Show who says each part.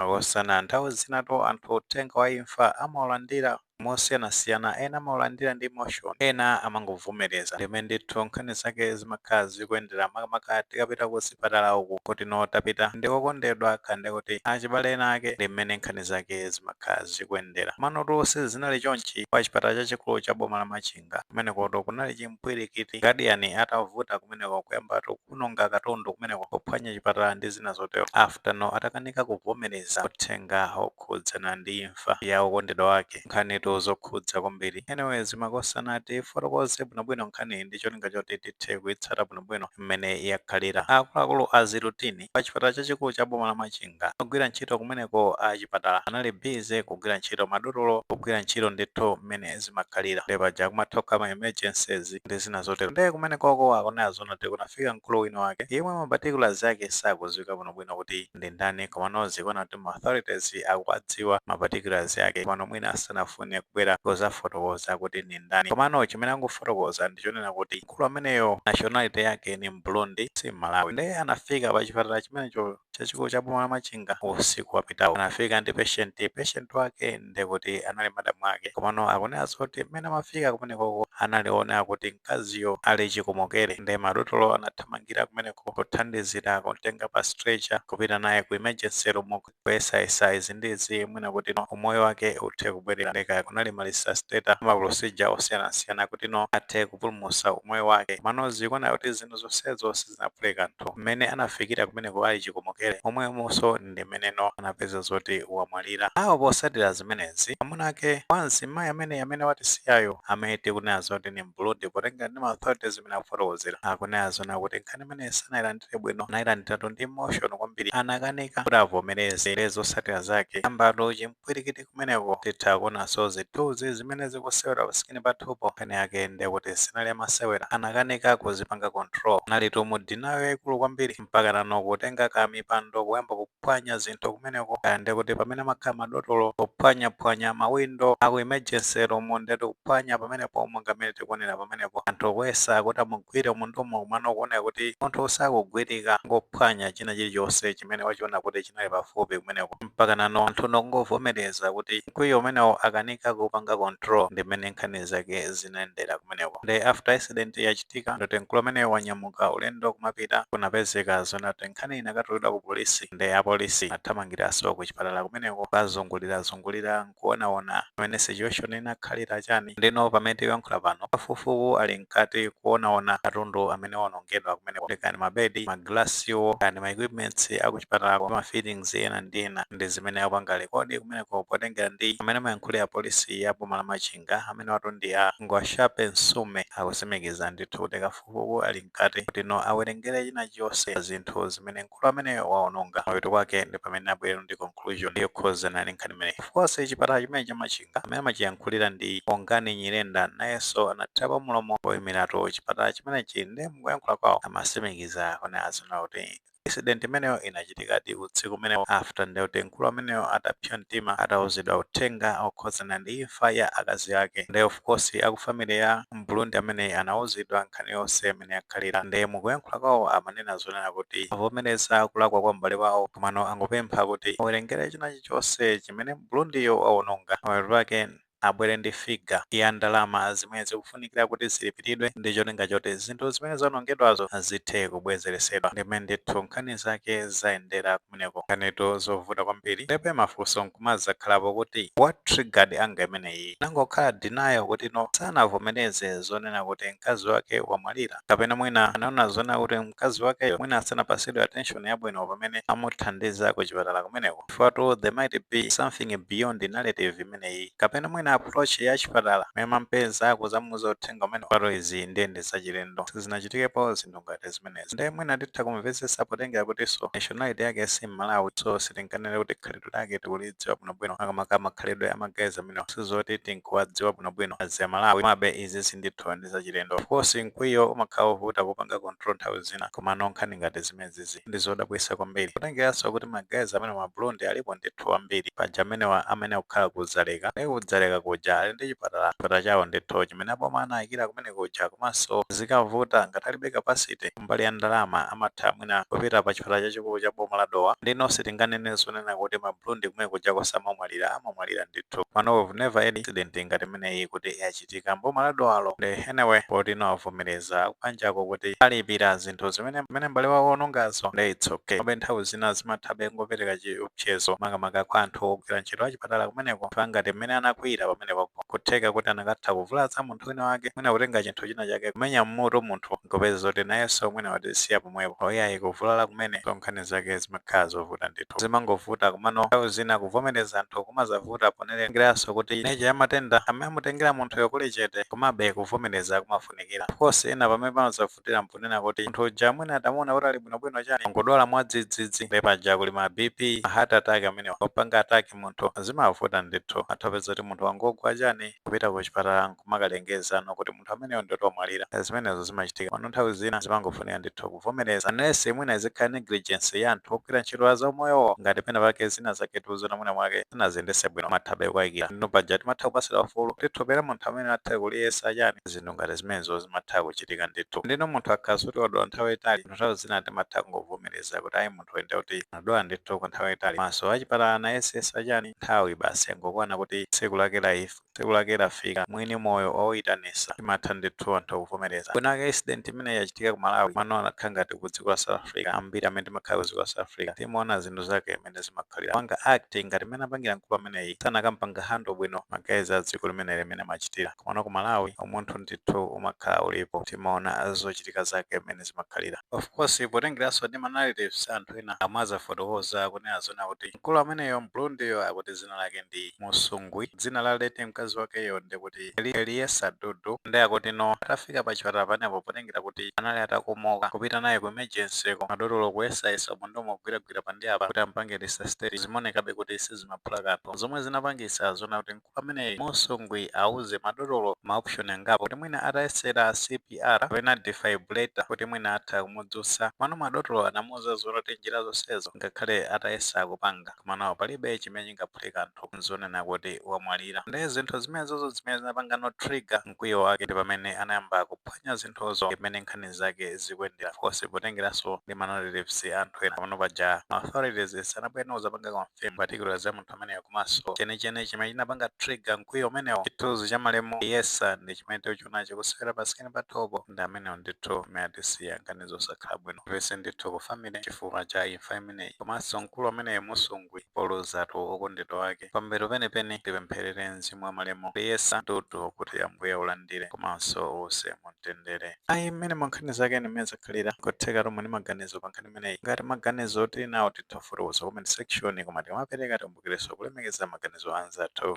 Speaker 1: Makosana, Nthawi zinatu anthu uthenga wa imfa amaulandira mosiyanasiyana, ena amaulandira ndi emotion, ena amangovomereza ndimene ndithu nkhani zake zimakhala zikuyendera makamaka tikapita kuzipatala uku kutino tapita ndi okondedwa kaya ndikuti achibale ena ake ndi mmene nkhani zake zimakhala zikuyendera. Komanotu sizinali chonchi kuchipatala chachikulu cha boma la Machinga. kumenekoto kunali chimpwirikiti gadiyani atavuta kumeneko kuyambatu kuwononga katundu kumeneko kuphwanya chipatala ndi zina zotero after no atakanika kuvomereza uthenga okhudzana ndi imfa ya okondedwa wake nkhanitu zokhudza kwambiri anyways makosana tifotokoze bwinobwino nkhaniyi ndi cholinga choti tithe kuitsata bwinobwino mmene yakhalira akuluakulu azi routine pa chipatala chachikulu cha boma la Machinga. Ogwira ntchito kumeneko a chipatala anali busy kugwira ntchito madotolo kugwira ntchito ndithu mmene zimakhalira nde paja kumakhala ma emergencies ndi zina zotero nde kumenekoko akunena zonena kuti kunafika mkulu wina wake yemwe ma particulars ake sakudziwika bwinobwino kuti ndi ndani komano zikuoneka kuti ma authorities akuwadziwa ma particulars ake komano mwina sanafune kubwera kuzafotokoza kuti ndi ndani komano chimene angofotokoza ndi chonena kuti mkulu ameneyo nationality yake ni mburundi si mmalawi nde anafika pa chipatala chimenecho chachikulu cha boma la machinga usiku wapitawo anafika ndi patient patient wake nde kuti anali madamu ake komano akunena zoti mmene amafika kumenekoko anali oonena kuti mkaziyo ali chikomokere nde madotolo anathamangira kumeneko kuthandizira kumtenga pa stretcher kupita naye ku emergency room kuyesayesa izi ndi izi mwina kuti no umoyo wake uthe kubwerera nde kaya kunali ma resuscitator ma procedure osiyanasiyana kuti no athe kupulumusa umoyo wake komano zikuoneka kuti zinthu zonsezo sizinaphule kanthu mmene anafikira kumeneko ali chikomokere momwemonso ndi mmene no anapeza zoti wamwalira ano potsatira zimenezi amuna ake wa mzimayi amene amene watisiyayo amene tikunena zoti ni mburundi potengera ndi ma authorities zimene akufotokozera akunena zonena kuti nkhani imeneyi sanailandire bwino, anailandiratu ndi emotion kwambiri, anakanika kuti avomereze nde zotsatira zake ayambatu chimpwirikiti kumeneko titha kuonanso zithunzi zimene zikusewera pa screen pathupo nkhani yake ndiye kuti sinali yamasewera anakanika kuzipanga control analitu mu denial yaikulu kwambiri mpaka nano kutenga ka mipando kuyamba ku kuphwanya zinthu kumeneko kaya ndekuti pamene amakhala madotolo kuphwanyaphwanya mawindo aku emergency room ndetu kuphwanya pamenepo monga mmene tikuonera pamenepo anthu kuyesa kuti amugwire munthuyo komano kuoneka kuti munthu sakugwirika ngophwanya china chilichonse chimene wachiona kuti chinali pafupi kumeneko mpakana no anthu no kungovomereza kuti mkwiyo umenewo akanika kupanga control ndi mmene nkhani zake zinayendera kumeneko nde after incident ya Ndoti mkulu ameneyo wanyamuka ulendo kumapita kunapezeka zona kuti nkhani inakatulidwa ku polisi nde apolisi anathamangiranso ku chipatala kumeneko kukazungulirazungulira nkuonaona pamene situation inakhalira chani ndeno pamene tikuyankhula pano kafukufuku ali mkati kuonaona katundu amene waonongedwa kumeneko ndi kani mabedi ma glasswo kani ma equipments aku chipatalako ma fittings ena ndi ena ndi zimene akupanga lekodi kumeneko potengera ndi amene amayankhulira polisi ya boma la Machin Mawanga amenewatu ndi a Ngwashape Nsume akusimikiza ndithu kuti kafukufuku ali mkati kuti no awerengere chinachonse pa zinthu zimene mkulu ameneyo waononga. Kumapeto kwake ndi pamene abwere ndi conclusion yokhuzana ndi nkhani imeneyi. Of course chipatala chimene cha Machinga amene amachiyankhulira ndi Bongani Nyirenda nayenso anathirapo mlomo oimilatu chipatala chimenechi nde mukuyankhula kwao amasimikiza kunena zoona kuti Incident imeneyo inachitikadi usiku umenewo after ndithu mkulu ameneyo atapsya mtima atauzidwa uthenga okhudzana ndi imfa ya akazi ake nde of course aku family ya m'Burundi ameneyi anauzidwa nkhani yonse mmene yakhalira nde mukuyankhula kwawo amanena zonena kuti avomereza kulakwa kwa m'bale wawo komano angopempha kuti awerengere chinachilichonse chimene m'Burundiyo wawononga pamapeto pake abwere ndi figure ya ndalama zimene zikufunikira kuti zilipiridwe ndi cholinga choti zinthu zimene zaonongedwazo zithe kubwezeretsedwa. Ndi mmene ndithu nkhani zake zayendera kumeneko. Nkhanitu zovuta kwambiri. Ndebe mafunso nkumadzakhalapo kuti what triggered anger imeneyi? Inangokhala denial kuti no, sanavomereze zonena kuti mkazi wake wamwalira. Kapena mwina anaona zonena kuti mkazi wakeyo mwina sanapatsidwe attention yabwino pamene amuthandiza kuchipatala kumeneko. Chifukwatu there might be something beyond narrative imene imeneyi kapena mwina approach ya chipatala mmene amamupeza akuzamuuza uthenga umene. Pano izi ndiye ndi zachilendo sizinachitikepo zinthu ngati zimenezi nde mwina titha kumvetsetsa potengera kutinso nationality yake si mmalawi so sitinganene kuti khalidwe lake tikulidziwa bwinobwino makamaka makhalidwe a ma guys amenewa sizoti tinkuwadziwa bwinobwino as Amalawi komabe izizi ndithu ndi zachilendo of course mkwiyo umakhala wovuta kupanga control nthawi zina komano nkhani ngati zimenezizi ndi zodabwitsa kwambiri kutengeranso kuti ma guys amenewa ma Burundi alipo ndithu ambiri paja amenewa amene akukhala ku Dzaleka nde ku Dzaleka kuja ali ndi chipatala chipatala chawo ndithu chimene aboma anawaikira kumene kuja komanso zikavuta ngati alibe capacity kumbali ya ndalama amatha mwina kupita pa chipatala chachikulu cha boma la Dowa nde nonse tinganene zonena kuti ma Burundi kumene kuja samamwalira amamwalira ndithu mano we've never had incident ngati imeneyi kuti zikuchitika mboma la Dowalo nde anyway poti nawo avomereza akubanjako kuti alipira zinthu zimene zimene m'bale wawo waonongazo nde it's okay komabe nthawi zina zimathabe kungopereka chiopsezo makamaka kwa anthu ogwira ntchito achipatala kumeneko chifukwa ngati mmene anakwiyira pamenepo kutheka kuti anakatha kuvulaza munthu wina wake mwina kutenga chinthu china chake kumenya mmutu munthu nkupeza zoti nayenso mwina watisiya pomwepo oyayi kuvulala kumene so nkhani zake zimakhala zovuta ndithu anthu zimangovuta komano nthawi zina kuvomereza anthu kumazavuta potengeranso kuti nature ya matenda amene amutengera munthuyo kuli chete komabe kuvomereza kumafunikira. Of course ena pamene pamazavutira mponena kuti munthu uja mwina atamuona kuti ali bwinobwino chani angodwala mwadzidzidzi nde paja kuli ma BP, ma heart attack amene opanga attack munthu zimavuta ndithu matha kupeza kuti munthu wangogwa chani kupita kuchipatala kumakalengeza no kuti munthu ameneyo ndithu wamwalira Eh, zimenezo zimachitika pano nthawi zina zimangofunika ndithu kuvomereza unless mwina izikhala negligence ya anthu ogwira ntchito ya zaumoyowo ngati pena pake zina zake tikuziona mwina mwake sanaziyendetse bwino timathabe kuwakayikira ndiyeno paja timatha kupatsidwa ufulu tithopera munthu amene athe kuliyesa chani zinthu ngati zimenezo zimatha kuchitika ndithu ndiyeno munthu akakhala kuti wadwala nthawi yaitali munthu nthawi zina timatha kungovomereza kuti ayi munthu nde kuti anadwala ndithu kwa nthawi yaitali komanso achipatala anayesayesa chani nthawi basi yangokwana kuti tsiku lake lafi Tsiku lake lafika mwini moyo wauyitanisa timatha ndithu anthu kuvomereza mwina incident imeneyi yachitika ku Malawi komano akanakhala ngati ku dziko la South Africa ambiri amene timakhala ku dziko la South Africa timaona zinthu zake mene zimakhalira kupanga act ngati mene apangira mkulu ameneyi sanakampanganso handle bwino ma guys a dziko limeneli mene amachitira komano ku Malawi umunthu ndithu umakhala ulipo timaona zochitika zake mene zimakhalira of course potengeraso ndi ma narratives a anthu ena amwe azafotokoza kunena zona kuti mkulu ameneyo m'Burundiyo akuti dzina lake ndi Musungwi dzina la late mkazi wakeyo ndi kuti Liyesa Dudu nde akuti no atafika pa chipatala pamenepo potengera kuti anali atakomoka kupita naye ku emergency-ko madotolo kuyesayesa umu ndi umu kugwiragwira apa ndi apa kuti ampange resuscitate zimaonekabe kuti sizimaphula kanthu zomwe zinapangisa zona kuti mkulu ameneyi Musungwi auze madotolo ma option angapo kuti mwina atayesera CPR kapena defibrillator kuti mwina atha kumudzutsa komano madotolo anamuuza zona kuti njira zonsezo ngakhale atayesa kupanga komano palibe chimene chingaphule kanthu nzonena kuti wamwalira nde zinthu zimenezo ndizo zimene zinapangano trigger mkwiyo wake ndi pamene anayamba kuphwanya zinthuzo ndi mmene nkhani zake zikuyendera of course potengeranso ndi ma narratives a anthu ena panopa paja ma authorities sanabwereno kuzapanga confirm particulars za munthu ameneyo komanso chenicheni chimene chinapanga trigger mkwiyo umenewo chithunzi cha malemu Liyesa ndi chimene tikuchiona chikusewera pa screen pathopo ndi amenewo ndithu amene atisiya nkhani zosakhala bwino pepani ndithu ku family chifukwa cha imfa imene imeneyi komanso mkulu ameneyo Musungwi poluzatu okondedwa wake pambuyo penipeni tipempherere mzimu wa malemu Liyesa Dudu kuti ambuye aulandire komanso uuse mumtendere ayi mmene nkhani zake mmene zakhalira kotheka tili ndi maganizo pa nkhani imeneyi ngati maganizo tili nawo titha kufotokoza ku comment section koma tikamapereka tikumbukirenso kulemekeza maganizo a anzathu